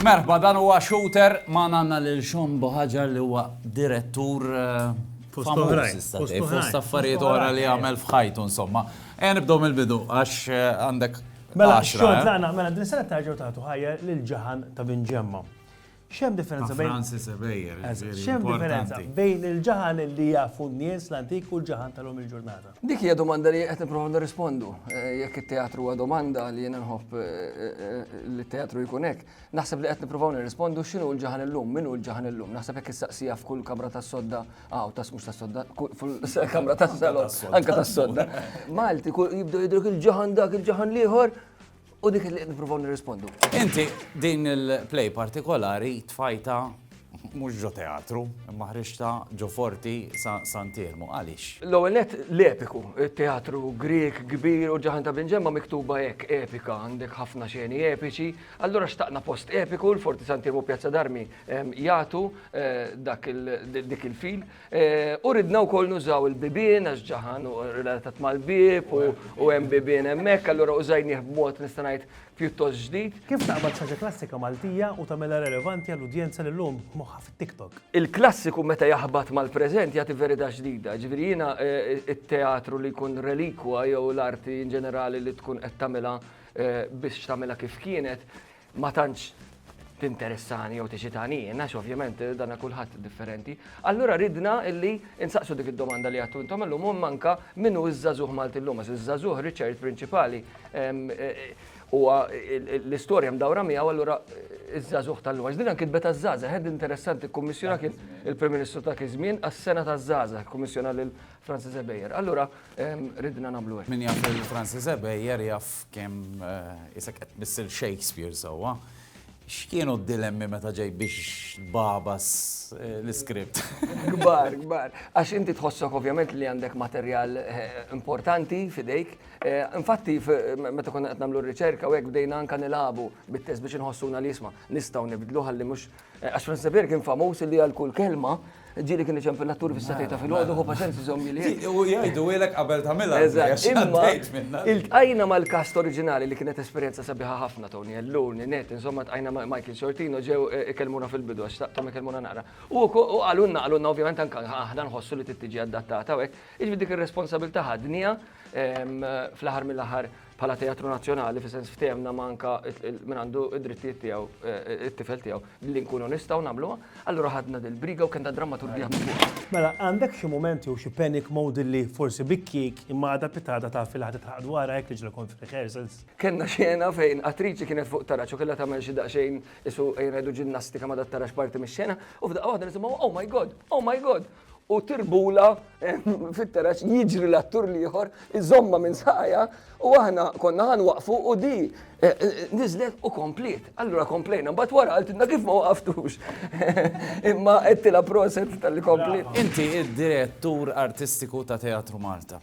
Merħba dan huwa shooter ma nanna lil Sean Bohaġar li huwa direttur eh, fost affarijiet oħra li għamel f'ħajtu insomma. E nibdew mill-bidu għax eh, għandek Mela, xogħol eh? tagħna, mela din sena tarġgħu tagħtu ħajja lil ġaħan ta' Bin Ġemma. X'hemm differenza bejn. Francis Ebejer, X'hemm differenza bejn il-ġaħan li jafu n-nies l-antik u l-ġaħan tal-lum il-ġurnata? Dik hija domanda li qed nipprova nirrispondu. Jekk it-teatru huwa domanda li jiena nħobb li t-teatru jkun hekk, naħseb li qed nippruvaw nirrispondu x'inhu l-ġaħan illum, min hu l-ġaħan illum. Naħseb jekk issaqsija f'kull kamra tas-sodda, aw tas mhux tas-sodda, fil-kamra tas-salon, anke tas-sodda. Malti jibdew jidhruk il-ġaħan dak, il-ġaħan l-ieħor, U dik li niprofaw nirrispondu. Inti din il-play partikolari tfajta mhux ġo teatru, imma ħriġta ġo forti sa Santirmu. Għaliex? L-ewwel net l-epiku, teatru Grieg kbir u ġaħan ta' Binġemma miktuba hekk epika, għandek ħafna xeni epiċi, allura xtaqna post epiku l-Forti Santirmu Pjazza Darmi jagħtu eh, dak dik il-fil. U ridna wkoll nużaw il-bibien għax ġaħan u relatat mal-bieb u hemm bibien hemmhekk, allura użajnih b'mod nista' ngħid pjuttost ġdid. Kif taqbad xaġa klassika Maltija u tagħmilha relevanti għall-udjenza li llum moħħha fit-TikTok? Il-klassiku meta jaħbat mal-preżent jagħti verità ġdida. Jiġifieri jiena t-teatru li jkun relikwa jew l-arti inġenerali li tkun qed tagħmilha biex tagħmilha kif kienet, ma tantx tinteressani jew teċitani jien, għax ovvjament eh, dana kulħadd differenti. Allura ridna illi insaqsu dik id-domanda li għattu intom illum u manka minnu iż-żazuh Malti llum, għax iż-żazuh Richard prinċipali ehm, eh, u l-istorja mdawra miegħu allura eh, iż-żazuh tal-lum. Għax din anki tbeta żaza, ħed interessanti kummissjona kien il-Prim Ministru ta' kien żmien għas-sena ta' żaza, kummissjona lil Francis Ebejer. Allura Ridna nagħmlu hekk. Min jaf lil Francis Ebejer jaf kemm isek qed tmissel Shakespeare sewwa. X'kienu d-dilemmi meta ġej biex tbabas eh, l-iskript? Gbar, gbar. Għax inti tħossok ovvjament li għandek materjal eh, importanti fidejk. Eh, infatti, meta konna qed nagħmlu r-riċerka u hekk bdejna anka nilagħbu bit-test biex inħossuna li jisma' nistgħu nibdlu ħalli mhux Għax Franz Seber kien famuż li għal kull kelma ġili kien iċem fil-attur fis-satej ta' fil-ħodu, hu paċenzi zommi li. U jgħidu għilek qabel ta' mela. Il-tqajna mal-kast oriġinali li kienet esperienza sabiħa ħafna Tony Ellun, Net, insomma tqajna ma' Michael Sortino ġew ikellmuna fil-bidu għax taqtom ikellmuna naqra. U għalunna għalunna ovvjament anka aħna nħossu li tittiġi adattata u hekk. Iġbi dik ir-responsabilta ħadnija fl-aħħar mill-aħħar bħala teatru nazzjonali fi sens ftehemna ma anka min għandu id-drittijiet tiegħu it-tifel tiegħu li nkunu nistgħu nagħmluha, allura ħadna dil-briga u kellna drammaturgija minn fuqha. Mela, għandek xi mument jew xi panic mode li forsi bi kieek imma għada pitada taf li ħa titħaqq dwarha hekk li ġra kont f'rehearsals? Kellna xena fejn attriċi kienet fuq taraġ u kellha tagħmel xi daqsxejn isu ejja ngħidu ġinnastika ma dat-taraġ parti mix-xena u f'daqqa waħda nisimgħu oh my God! Oh my God! u tirbula fit-teraċ jiġri l-attur liħor, iżomma minn saqaja u aħna konna għan waqfu u di eh, eh, nizlet u komplet. Allura komplejna, bat wara għaltinna kif ma waqftux. Imma għettila proset tal-li komplet. Inti id-direttur artistiku ta' Teatru Malta.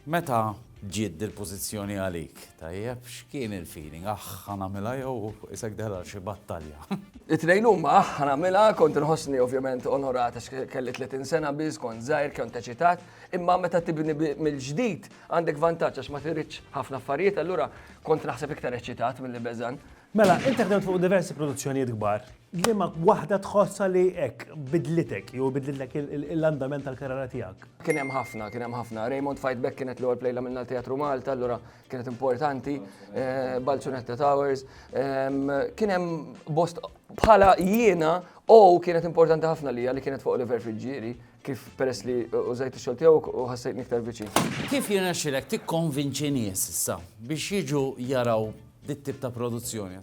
Meta ġiet dil-pożizzjoni għalik, tajjeb, x'kien il-feeling? Aħ, ħa nagħmilha jew isek deħla għal xi battalja? It-tnejn huma aħ, ħa nagħmilha, kont inħossni ovvjament onorat għax kelli 30 sena biss, kont żgħir, kont eċitat, imma meta tibni mill-ġdid għandek vantaġġ għax ma tiridx ħafna affarijiet, allura kont naħseb iktar eċitat milli beżgħan. Mela, int ħdemt fuq diversi produzzjonijiet kbar, liema waħda tħossha li hekk bidlitek jew bidlitlek l-andament tal-karriera tiegħek? Kien hemm ħafna, kien hemm ħafna. Raymond Fight Back kienet l-ewwel play li għamilna l-Teatru Malta, allura kienet importanti, eh, Balzunetta Towers. Ehm, kien hemm bost bħala jiena u kienet importanti ħafna li li kienet fuq Oliver Friġġieri kif peress li użajt ix-xogħol tiegħu u ħassejt niktar viċin. Kif jirnexxilek tikkonvinċi nies issa biex jiġu jaraw dit-tip ta' produzzjoni.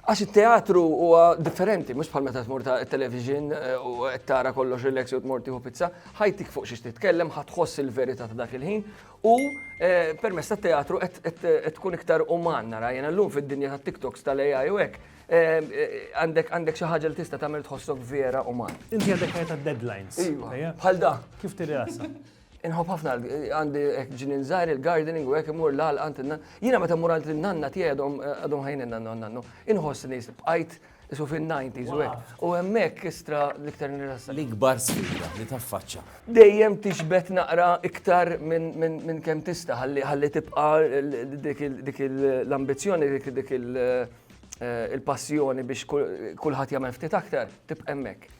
Għax it-teatru huwa differenti, mhux bħal meta tmur ta' television eh, u qed tara kollox relax u tmur tieħu pizza, ħajtik fuq xiex titkellem, ħatħoss il-verità ta' dak il-ħin u eh, permess tat-teatru qed tkun iktar uman nara jiena llum fid-dinja tat-TikToks tal-AI u hekk eh, għandek għandek xi ħaġa li tista' tagħmel tħossok vera uman. Inti għandek ħajja ta' deadlines. Iva, bħal da. Kif tirrasa? Inħobb ħafna għandi hekk ġinin żgħar il-gardening u hekk imur l-għal għand inna. Jiena meta mur għand l-nanna tiegħi għadhom għadhom ħajn nanna nannu. Inħossni bqajt isu fin-90s u hekk. U hemmhekk istra l-iktar nirrassa. L-ikbar sfida li taffaċċa. Dejjem tixbet naqra iktar minn kemm tista' ħalli tibqa' dik l-ambizzjoni dik il-passjoni biex kulħadd jagħmel ftit aktar tibqa' hemmhekk.